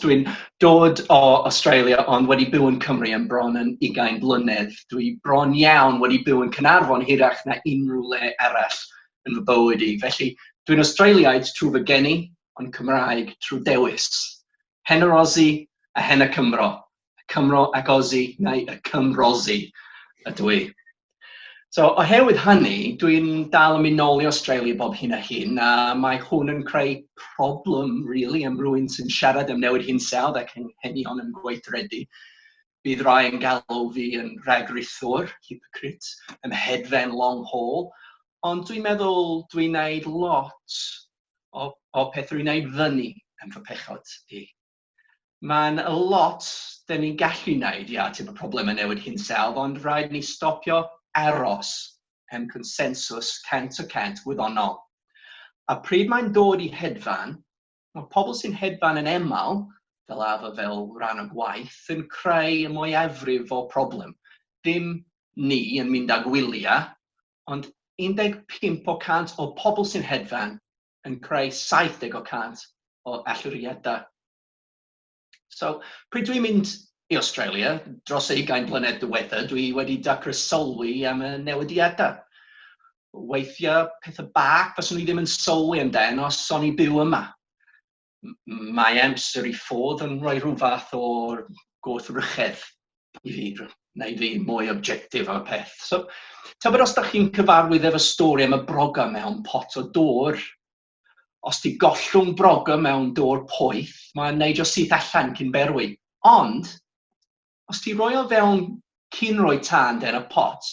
Dwi'n dod o Australia ond wedi byw yn Cymru am bron yn ugain blynedd. Dwi bron iawn wedi byw yn Caernarfon hirach na unrhyw le arall yn fy bywyd i, felly dwi'n Australiaid trwy fy geni ond Cymraeg trwy dewis. Hen yr Aussie a hen y Cymro, y Cymro ac Aussie, neu y Cymrosi ydw i. So, oherwydd hynny, dwi'n dal yn mynd nôl i Australia bob hyn a hyn, a mae hwn yn creu problem, really, am rwy'n sy'n siarad am newid hinsawdd ac anghenion yn gweithredu. Bydd rai yn galw fi yn rhagrithwr, hypocrite, yn hedfen long haul, ond dwi'n meddwl dwi'n wneud lot o, o pethau rwy'n wneud fyny yn fy pechod i. Mae'n lot dan ni'n gallu wneud i ateb problemau newid hinsawdd, ond rhaid ni stopio aros am consensws cant y cant gwyddonol. A pryd mae'n dod i hedfan, mae pobl sy'n hedfan yn aml, fel arfer fel rhan o gwaith, yn creu y mwyafrif o'r problem. Dim ni yn mynd â gwyliau, ond 15 o 100 o pobl sy'n hedfan yn creu 70 o 100 o allyriadau. So, pryd dwi'n mynd i Australia, dros y ugain blynedd diwetha, dwi wedi dacra sylwi am y newidiadau. Weithiau, pethau bach fyswn i ddim yn sylwi amdano os o'n i byw yma. mae amser i fod yn rhoi rhyw fath o gwrthrychedd i fi, neu fi mwy objectif ar y peth. So, tybed os da chi'n cyfarwydd efo stori am y broga mewn pot o dŵr, os ti gollwng broga mewn dŵr poeth, mae'n neud o syth allan cyn berwi. Ond, os ti roi o fewn cyn roi tân den y pot,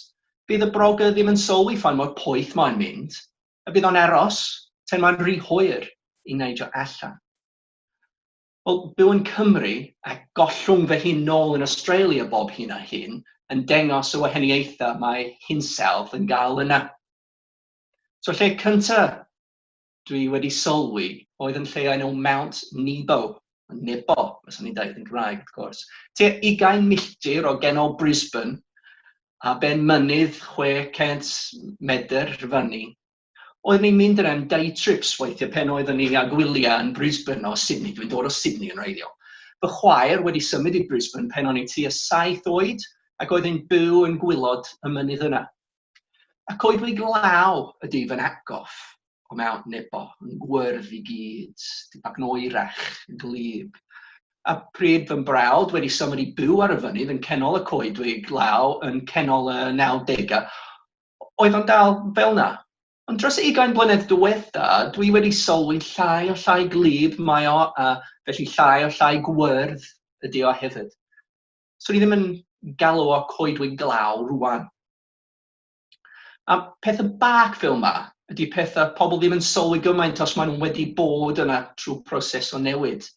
bydd y broga ddim yn sylwi ffain mor poeth mae'n mynd, y bydd o'n aros tan mae'n rhy hwyr i neidio allan? Wel, byw yn Cymru a gollwng fy hun nôl yn Australia bob hyn a hyn yn dengos y wahaniaethau mae hinsawdd yn gael yna. So lle cynta dwi wedi sylwi oedd yn lle enw Mount Nebo, Nebo, os o'n i'n dweud yn Gymraeg, wrth gwrs, tua 20 milltir o genol Brisbane, a ben mynydd 600 medr fyny, oeddwn i'n mynd yn day trips weithiau pen oeddwn ni â gwyliau yn Brisbane o Sydney, dwi'n dod o Sydney yn wreiddiol. Fy chwaer wedi symud i Brisbane pen o'n i tua saith oed ac oedd yn byw yn gwylod y mynydd yna. Y coedwig law ydy fy nhad-gof. Come out nebo, yn gwyrdd i gyd, di bag noerach, yn glib. A pryd fy mbrawd wedi symud i byw ar y fynydd yn cenol y coedwig law yn cenol y 90au, oedd o'n dal fel na. Ond dros y ugain blynedd diwetha, dwi wedi sylwi llai o llai glib mae o, a felly llai o llai gwyrdd ydy o hefyd. Swn i ddim yn galw o coedwig glaw rwan. A peth y bac fel ma, ydy pethau pobl ddim yn sylwi gymaint os maen nhw wedi bod yna trwy proses o newid.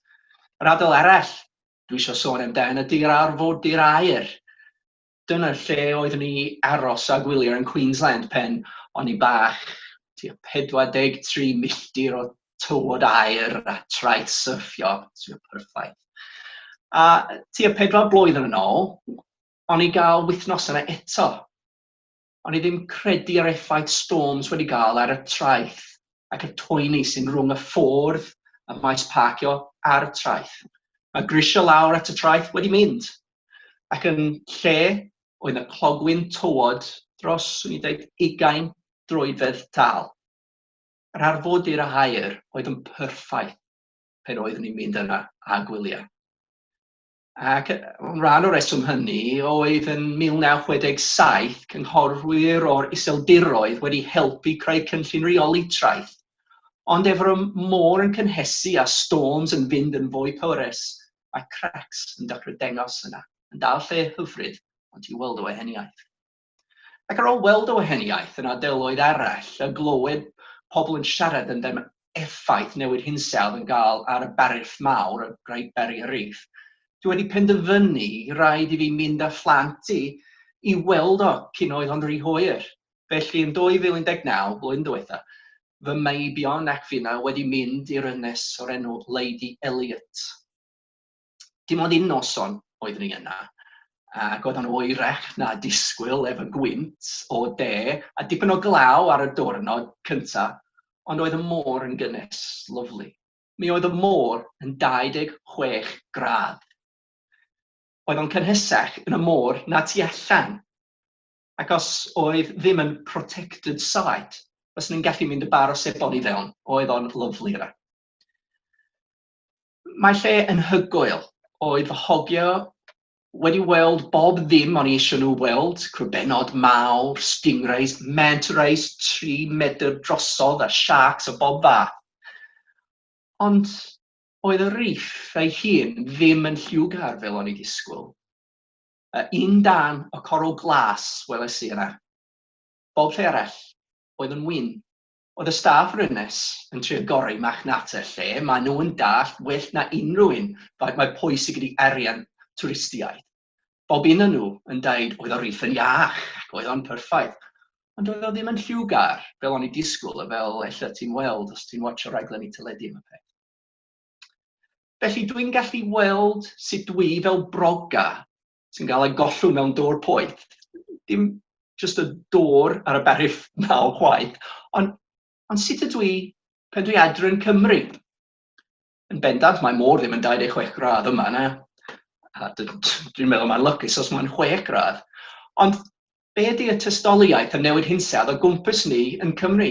Yr adael arall dwi eisiau sôn amdan ydy'r arfordir aer. Dyna lle oeddwn ni aros a gwylio yn Queensland pen o'n i bach, tua 43 milltir o tywod aer a traeth syrffio, tua perffaith. A tua pedwar blwyddyn yn ôl, Ond i gael wythnos yna eto. O'n i ddim credu ar effaith Storms wedi gael ar y traeth ac y toeni sy'n rhwng y ffordd y maes parcio a'r traeth. Mae grisiau lawr at y traeth wedi mynd, ac yn lle oedd 'na clogwyn tywod dros, swn i'n deud, ugain droedfedd tâl. Yr arfodir a aer oedd yn perffaith pan oeddwn i'n mynd yna a gwyliau. Ac rhan o'r reswm hynny oedd yn 1967 cynghorwyr o'r Iseldiroedd wedi helpu creu cynllun reoli traeth, ond ef yr môr yn cynhesu a storms yn fynd yn fwy pwerus, mae cracks yn dechrau dengos yna, yn dal lle hyfryd ond ti weld o eheniaeth. Ac ar ôl weld y wahaniaeth yn ardaloedd arall a glywed pobl yn siarad amdan effaith newid hinsawdd yn gael ar y Barriff Mawr, y Great Barrier Reef, dwi wedi penderfynu i raid i fi mynd â phlant i i weld o cyn oedd o'n rhy hwyr. Felly yn 2019, blwyddyn diwetha, fy meibion ac finna wedi mynd i'r ynys o'r enw Lady Elliot. Dim ond un noson oeddwn i yna, ac oedd o'n oerach na disgwyl efo gwynt o de a dipyn o glaw ar y diwrnod cyntaf, ond oedd y môr yn gynnes, lyfli. Mi oedd y môr yn 26 gradd. Oedd o'n cynhesach yn y môr na tu allan, ac os oedd ddim yn protected site, fyswn i'n gallu mynd y bar o sebon i fewn, oedd o'n lyfli yna. mae lle yn hygoel. Oedd fy hogio wedi weld bob ddim o'n i eisiau nhw weld, crwbenod mawr, stingrays, manta rays tri medr drosodd a siarcs o bob fath. Ond oedd y Reef ei hun ddim yn lliwgar fel o'n i disgwyl. A un dan o coral glas weles i yna. Bob lle arall oedd yn wyn. Oedd y staff yr Ynys yn trio gorau marchnata lle, maen nhw yn dallt well na unrhyw un faint mae pwysig ydi arian twristiaid. Bob un o nhw yn deud oedd y riff yn iach ac oedd o'n perffaith, ond doedd o ddim yn lliwgar fel o'n i disgwyl a fel ella ti'n weld os ti'n watsio rhaglenni teledu am y peth. Felly dwi'n gallu weld sut dwi fel broga sy'n cael ei gollwng mewn dôr poeth. Dim jyst y dôr ar y berif naw chwaith, ond, ond sut ydw i pen dwi adre yn Cymru? Yn bendant, mae môr ddim yn 26 gradd yma, na. Dwi'n meddwl mae'n lycus os mae'n 6 gradd. Ond be ydy y tystoliaeth a newid hinsawdd o gwmpas ni yn Cymru?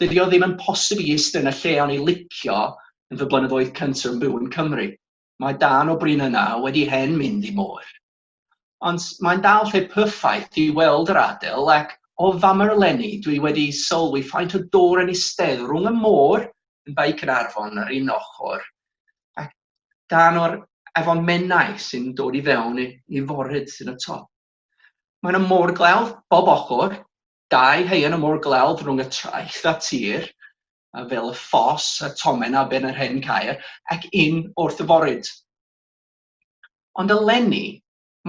Dydi o ddim yn posib i iste yn y lle o'n i licio yn fy blynyddoedd cyntaf yn byw yn Cymru. Mae darn o brin yna wedi hen mynd i môr. Ond mae'n dal lle perffaith i weld yr adel ac o famau eleni dwi wedi sylwi faint o dôr yn istedd rhwng y môr yn Bae Caernarfon ar un ochr ac darn o'r Afon Menai sy'n dod i fewn i, i foryd yn y top. Mae yna môr glawdd bob ochr Dau haearn y môr glawdd rhwng y traeth a tir, a fel y ffos a tomen a ben yr hen caer, ac un wrth y foryd. Ond eleni,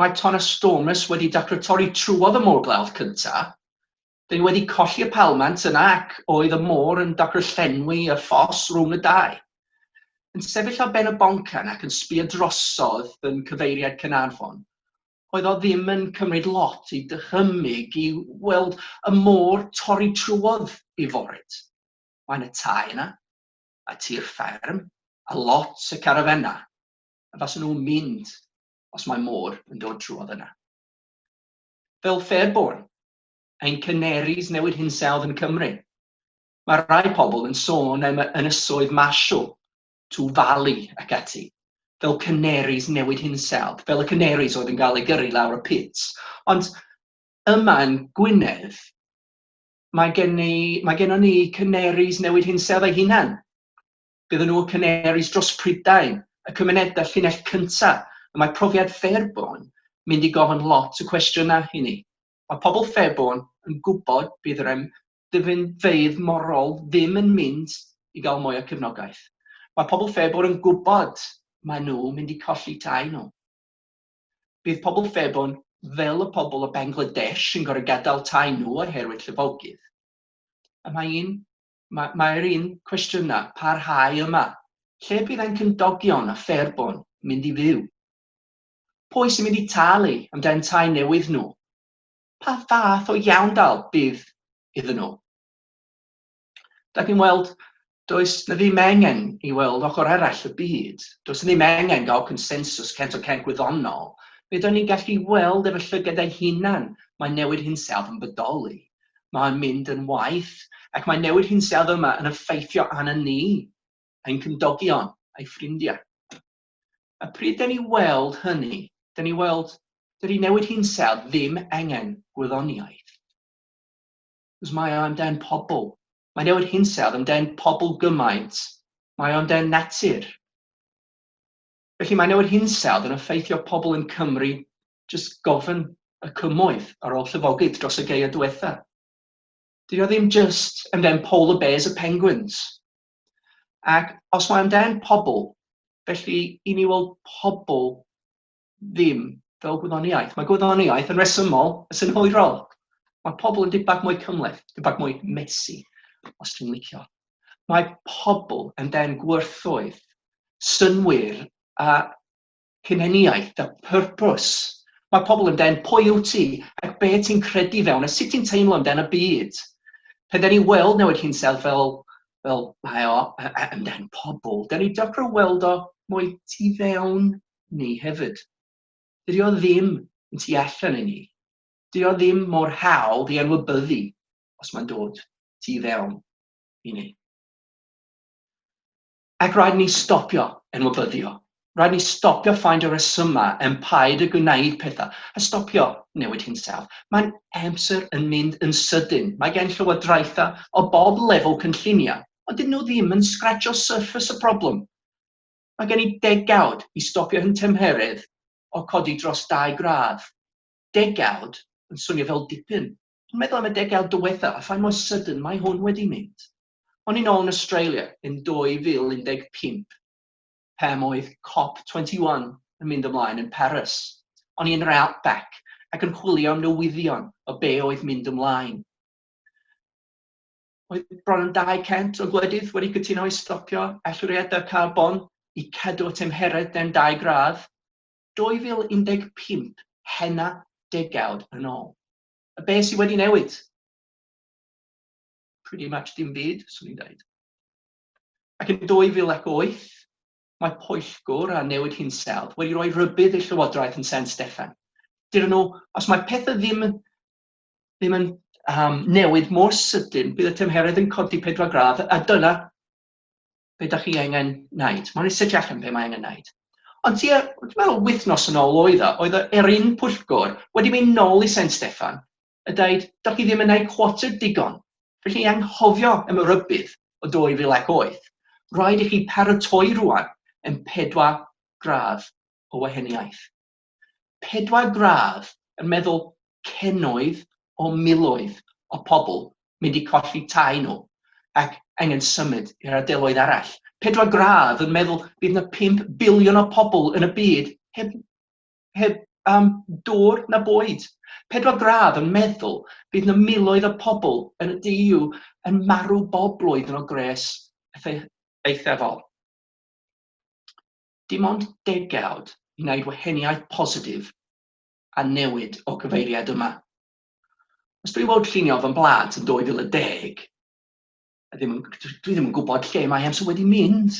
mae ton a stormus wedi dacro torri trwodd y môr glawdd cynta, dyn ni wedi colli y palmant yna ac oedd y môr yn dacro llenwi y ffos rhwng y dau. Yn sefyll ar ben y boncan ac yn sbio drosodd yn cyfeiriad Caernarfon, oedd o ddim yn cymryd lot i dychymyg i weld y môr torri trwodd i Forwyd. Mae 'na tai yna, a tir fferm, a lot o carafennau, a faswn nhw'n mynd os mae môr yn dod trwodd yna. Fel Fairbourne, ein Canaries newid hinsawdd yn Cymru. Mae rhai pobl yn sôn am ynysoedd Marshall to falu ac ati, fel canaries newid hinsawdd, fel y canaries oedd yn cael eu gyrru lawr y pit. Ond yma yn Gwynedd, mae gen ni, mae gennon ni canaries newid hinsawdd ei hunan. Bydden nhw y canaries dros Prydain, y cymunedau llinell cyntaf, y mae profiad Fairborn mynd i gofyn lot o cwestiynau i ni. Mae pobl Fairborn yn gwybod bydd yr ddeddfeydd morol ddim yn mynd i gael mwy o cefnogaeth. Mae pobl Fairborne yn gwybod mae nhw mynd i colli tai nhw. Bydd pobl Fairborne fel y pobl o Bangladesh yn gorau gadael tai nhw oherwydd llifogydd. A mae un, mae, mae'r un cwestiynau parhau yma. Lle bydd ein cymdogion a Fairborne mynd i fyw? Pwy sy'n mynd i talu amdan tai newydd nhw? pa fath o iawndal bydd iddyn nhw. Da chi'n weld, does na ddim engen i weld ochr arall y byd, does na ddim engen gael consensus 100% gwyddonol, fe da ni'n gallu weld efo llygad ei hunan mae newid hinsawdd yn bodoli, mae'n mynd yn waith, ac mae newid hinsawdd yma yn effeithio arno ni, ein cymdogion, ein ffrindiau. A pryd da ni weld hynny, da ni weld dydy newid hinsawdd ddim angen gwyddoniaeth. Cos mae o amdan pobl. Mae newid hinsawdd amdan pobl gymaint. Mae o amdan natur. Felly mae newid hinsawdd yn effeithio pobl yn Cymru jyst gofyn y cymoedd ar ôl llyfogydd dros y geia diwetha. Dydy o ddim jyst amdan polar bears a penguins. Ac os mae angen pobl, felly i ni weld pobl ddim fel gwyddoniaeth. Mae gwyddoniaeth yn resymol, yn synhwyrol. Mae pobl yn dipbach mwy cymhleth, dipbach mwy messy, os ti'n licio. Mae pobl yn den gwerthoedd, synwyr a Hunaniaeth, the purpose. Mae pobl yn dên pwy wyt ti ac be ti'n credu fewn a sut ti'n teimlo yn dên y byd. Pe dden ni weld newid hinsel fel, fel mae o yn dên pobl, dden ni dechrau weld o mwy tu fewn ni hefyd. Dydy o ddim yn tu allan i ni. Dydy o ddim mor hawdd i anwybyddu os mae'n dod tu fewn i ni. Ac rhaid ni stopio enwobyddio, rhaid ni stopio ffaindio y resymau am paid â gwneud pethau, a stopio newid hinsawdd. Mae'n amser yn mynd yn sydyn. Mae gen llywodraethau o bob lefel cynlluniau, ond dydyn nhw ddim yn sgratsio surface y problem. Mae gen i degawd i stopio hyn tymheredd o codi dros dau gradd. Degawd yn swnio fel dipyn, ond meddwl am y degawd diwethaf a faint mor sydyn mae hwn wedi mynd. O'n i'n ôl yn Australia yn 2015 pam oedd Cop 21 yn mynd ymlaen yn Paris. O'n i yn yr Outback ac yn chwilio am newyddion o be oedd mynd ymlaen. Oedd bron yn 200 o gwledydd wedi cytuno i stopio allyriadau carbon i cadw at tymheredd dan 2 gradd, 2015, hena degawd yn ôl. A be sydd wedi newid? pretty much dim byd, swn i'n dweud. Ac yn 2008, mae pwyllgwr a newid hinsawdd wedi rhoi rhybudd i Llywodraeth yn San Steffan. Dydyn nhw, os mae pethau ddim, ddim yn um, newid mor sydyn, bydd y tymheredd yn codi pedwar gradd, a dyna be da chi angen wneud. Mae'n ei setiach yn be mae angen wneud. Ond tua, dwi'n meddwl, wythnos yn ôl oedd o, oedd yr un pwyllgwr wedi mynd nôl i San Steffan a deud, dach chi ddim yn eu quartered digon, felly anghofio am y rhybudd o 2008, rhaid i chi paratoi rŵan yn pedwar gradd o wahaniaeth. Pedwar gradd yn meddwl cenoedd o miloedd o pobl mynd i colli tai nhw ac angen symud i'r ardeloedd arall. Pedwar gradd yn meddwl bydd 'na pump biliwn o pobl yn y byd heb heb um, dŵr na bwyd. Pedwar gradd yn meddwl bydd na miloedd o pobl yn y DU yn marw bob blwyddyn o gres eithafol. Dim ond degawd i wneud waheniaeth positif a newid o gyfeiriad yma. Os dwi fod llunio fy mblad yn 2010, ddim, dwi ddim yn gwybod lle mae amser wedi mynd.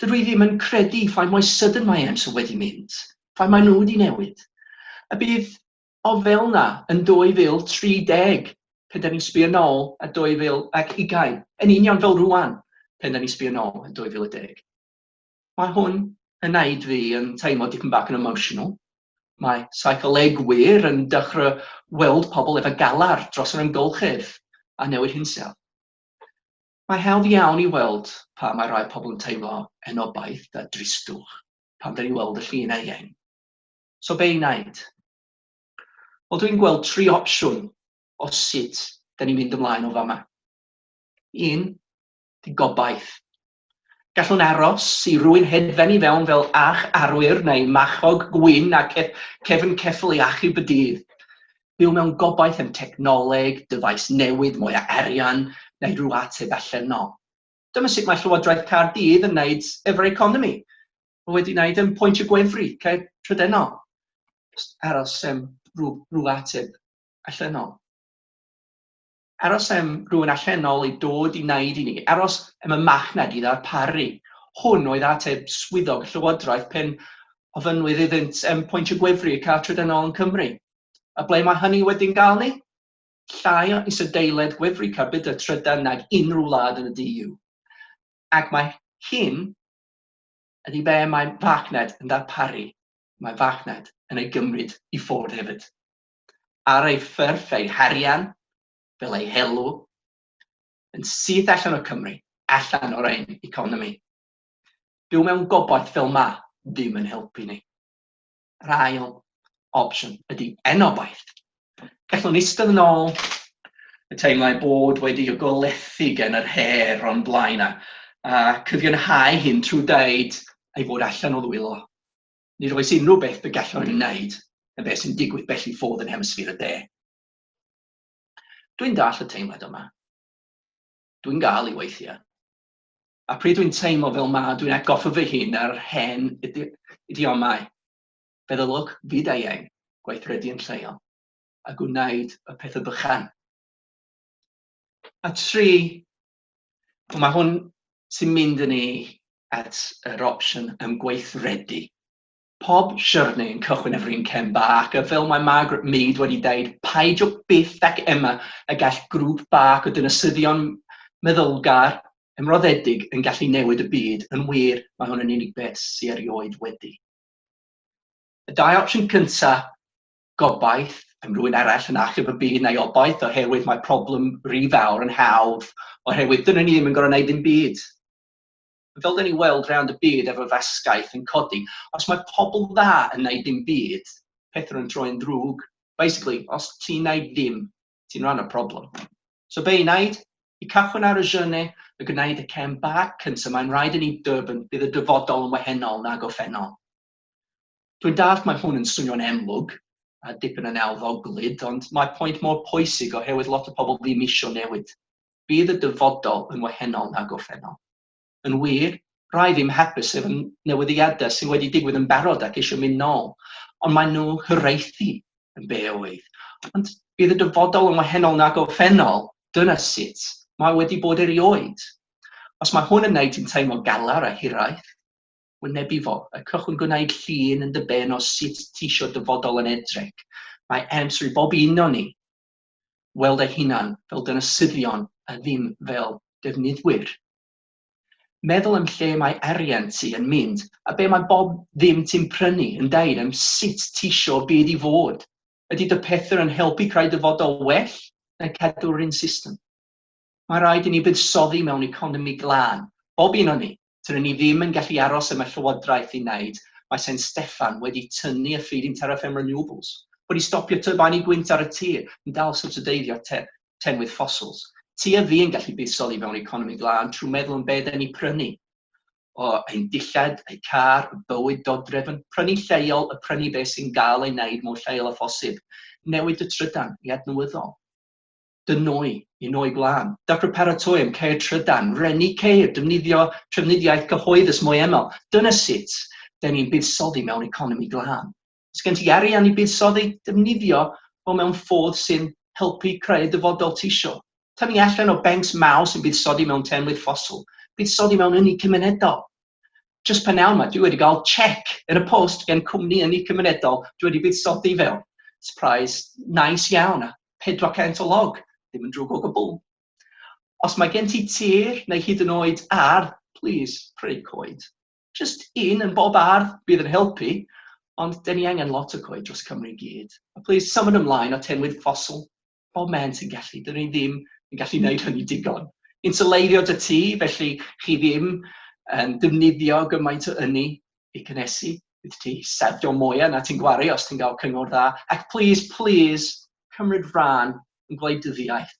Dydw i ddim yn credu faint mwy sydyn mae Enzo wedi mynd, faint maen nhw wedi newid. A bydd o fel 'na yn 2030, pan 'da ni'n sbio nôl ar 2020, yn union fel rŵan, pan 'da ni'n sbio nôl ar 2010. Mae hwn yn wneud fi yn teimlo dipyn bach yn emotional. Mae seicolegwyr yn dechrau weld pobl efo galar dros yr amgylchedd a newid hinsawdd. Mae'n hawdd iawn i weld pam mae rhai pobl yn teimlo anobaith a dristwch pan dyn ni'n weld y llun eang. So be i wneud? Wel, dwi'n gweld tri opsiwn o sut dyn ni'n mynd ymlaen o fama. Un, di gobaith. Gallwn aros i rwy'n hedfan i fewn fel ach arwyr neu machog gwyn a cefn ceffyl i achub y dydd. byw mewn gobaith am technoleg, dyfais newydd, mwy o arian, neu rhyw ateb allan 'no. Dyma sut mae Llywodraeth Caerdydd yn wneud efo'r economi. Mae wedi wneud yn pwynt y gwefru, okay, trydennol. Just aros am rhyw, rhyw ateb allanol. Aros am rywun allanol i dod i wneud i ni, aros am y machnad i ddarparu. Hwn oedd ateb swyddog y llywodraeth pan ofynnwyd iddynt am pwyntio gwefru y car trydanol yn Cymru. A ble mae hynny wedi'n gael ni? Llai o isadeiledd gwefru carbydau trydan nag unrhyw wlad yn y DU. Ac mae hyn ydy be mae farchnad yn ddarparu, mae farchnad yn ei gymryd i ffwrdd hefyd. ar ei phyrth ei harian, fel ei helw, yn syth allan o Cymru, allan o'r ein economi. Byw mewn gobaith fel ma ddim yn helpu ni. Yr ail opsiwn ydy enobaith. Gallwn istedd yn ôl y teimlau bod wedi y golethi gen yr her o'n blaen a, a cyfiawnhau hyn trwy dweud ei fod allan o ddwylo. Nid oes unrhyw beth y gallwn ei wneud yn beth sy'n digwydd bell i ffwrdd yn Hemisffer y De. Dwi'n dall y teimlad yma. Dwi'n gael i weithiau. A pryd dwi'n teimlo fel ma, dwi'n atgoffa fy hun ar hen idiomau, feddylwch fyd-eang, gweithredu yn lleol, a gwneud y pethau bychan. A tri, Ond mae hwn sy'n mynd yn ei at yr opsiwn ymgweithredu. Pob siwrne yn cychwyn efo un cem bach, a fel mae Margaret Mead wedi dweud, paidio byth ac ema y gall grŵp bach o dinasyddion meddylgar ymroddedig yn gallu newid y byd, yn wir, mae hwn yn unig beth sy' erioed wedi. Y dau opsiwn cyntaf gobaith am rywun arall yn achub y byd neu obaith oherwydd mae problem rhy fawr yn hawdd oherwydd dyna ni ddim yn gorfod wneud dim byd. Fel dyn ni'n weld rownd y byd efo fasgaeth yn codi, os mae pobl dda yn wneud dim byd, pethau yn troi'n ddrwg. Basically, os ti'n wneud dim, ti'n rhan o'r problem. So be i wneud? I cychwyn ar y journey, y gwneud y cem bach cyntaf, mae'n rhaid i ni dybyn bydd y dyfodol yn wahanol nag o ffennol. Dwi'n dallt mae hwn yn swnio'n enlwg a dipyn yn elfoglyd, ond mae pwynt mor pwysig oherwydd lot o pobl ddim isio newid. Bydd y dyfodol yn wahenol na gorffennol. Yn wir, rai ddim hapus efo newyddiadau sydd wedi digwydd yn barod ac eisiau mynd nôl, ond maen nhw hiraethu yn be oedd. Ond bydd y dyfodol yn wahenol na gorffennol, dyna sut mae wedi bod erioed. Os mae hwn yn wneud ti'n teimlo galar a hiraeth, wynebu fo. Y cychwyn gwneud llun yn dy ben o sut ti isio dyfodol yn edrych. Mae amser i bob un o ni weld ei hunan fel dynasyddion a ddim fel defnyddwyr. Meddwl am lle mae arian ti yn mynd a be mae bob ddim ti'n prynu yn deud am sut ti isio byd i fod. Ydy dy pethau yn helpu creu dyfodol well neu cadw'r un system? Mae rhaid i ni fuddsoddi mewn economi glân, bob un o ni. Tŷn ni ddim yn gallu aros am y Llywodraeth i wneud, mae Sain Steffan wedi tynnu y feed-in tariff am renewables, wedi stopio tyrbanu gwynt ar y tir, yn dal sybsideiddio tennwydd ffosils. Ti a fi yn gallu buddsoddi mewn economi glân trwy meddwl am be ydan ni prynu. O, ein dillad, eu car, y bywyd dodrefn, prynu lleol a prynu beth sy'n gael ei wneud mor lleol â phosib. Newid y trydan i adnewyddol. dŷn nwy, i nwy gwlân. Dapper paratoi am ceir trydan, reni ceir, defnyddio trafnidiaeth cyhoeddus mwy aml. Dyna sut dŷn ni'n buddsoddi mewn economi glân. Os gen ti arian i buddsoddi, defnyddio fo mewn ffordd sy'n helpu creu dyfodol tisio. Tynnu allan o bencs mawr sy'n buddsoddi mewn teinwydd ffosil. Buddsoddi mewn ynni cymunedol. Jyst p'nawn ma, dwi wedi gael chec yn y post gen cwmni ynni cymunedol dwi wedi buddsoddi fewn. Surprise nice iawn. 400 o log, ddim yn drwg o gwbl. Os mae gen ti tir neu hyd yn oed ardd, plîs, prynu coed. Jyst un yn bob ardd bydd yn helpu, ond dyn ni angen lot o coed dros Cymru i gyd. A plîs, symud ymlaen o tenwydd ffosil bob man ti'n gallu, dyn ni ddim yn gallu gwneud hynny digon. Insyleirio dy tŷ, felly chi ddim yn defnyddio gymaint o ynni, i gynhesu, bydd ti sefdio mwyaf na ti'n gwario os ti'n cael cyngor dda, ac plîs, plîs, cymryd rhan yn gwleidyddiaeth.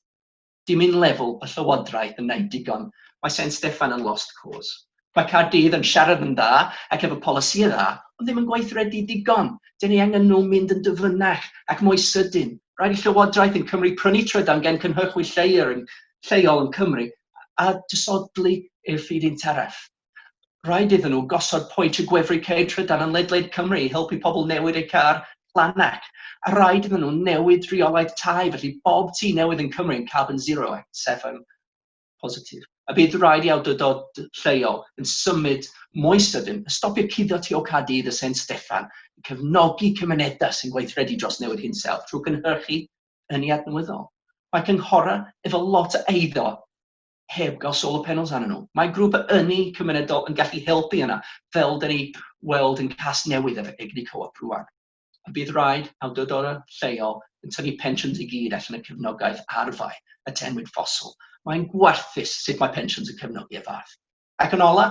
Dim un lefel y llywodraeth yn neud digon, mae Saint Steffan yn lost cause. Mae Caerdydd yn siarad yn dda ac efo polisïau dda, ond ddim yn gweithredu digon. Dyn ni angen nhw mynd yn dyfynach ac mwy sydyn. Rhaid i llywodraeth yn Cymru prynu trydan gen cynhyrchwyr lleol yn Cymru a dysodli i'r ffydd un taraf. Rhaid iddyn nhw gosod pwynt y gwefru ceir trydan yn ledled Cymru i helpu pobl newid eu car, Llannac, a rhaid iddyn nhw newid rheolaeth tai felly bob tŷ newydd yn Cymru yn carbon zero ac yn sefyll positif. A bydd rhaid i awdurdod lleol yn symud mwy sydyn a stopio cuddio tu ôl Caerdydd a San Steffan i cefnogi cymunedau sy'n gweithredu dros newid hinsawdd trwy gynhyrchu ynni adnewyddol. Mae cynghorau efo lot o eiddo heb gael solar panels arnyn nhw. Mae grŵp a ynni cymunedol yn gallu helpu yna, fel da ni weld yn Casnewydd efo egni co-op rwan. A bydd rhaid awdurdodau lleol yn tynnu pensiwns i gyd allan y cefnogaeth arfau y tenwyd ffosil. Mae'n gwarthus sut mae pensiwns yn cefnogi y fath. Ac yn ola,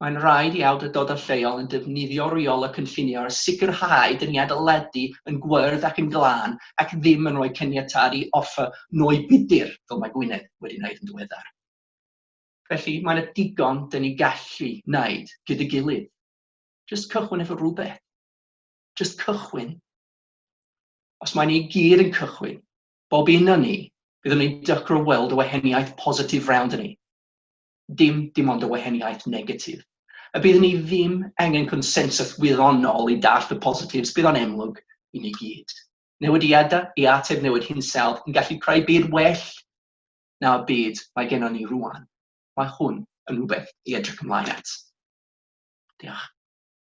Mae'n rhaid i awdurdodau lleol yn defnyddio reol y cynllunio ar sicrhau dyniad o ledu yn gwyrdd ac yn glân ac ddim yn rhoi caniatâd i offer nwy budur, fel mae Gwynedd wedi wneud yn ddiweddar. Felly, mae yna digon 'da ni gallu wneud gyda'i gilydd. Jyst cychwyn efo rhywbeth. Jyst cychwyn. Os mae ni i gyd yn cychwyn, bob un o ni, byddwn ni'n dycro weld y wahaniaeth positif rownd ni. dim dim ond y wahaniaeth negatif. A bydd ni ddim angen consensus wirionol i dallt y positives, bydd o'n emlwg i ni gyd. Newidiadau i ateb newid hinsawdd yn gallu creu byd well na'r byd mae gennym ni rwan. Mae hwn yn rhywbeth i edrych ymlaen at. Diolch.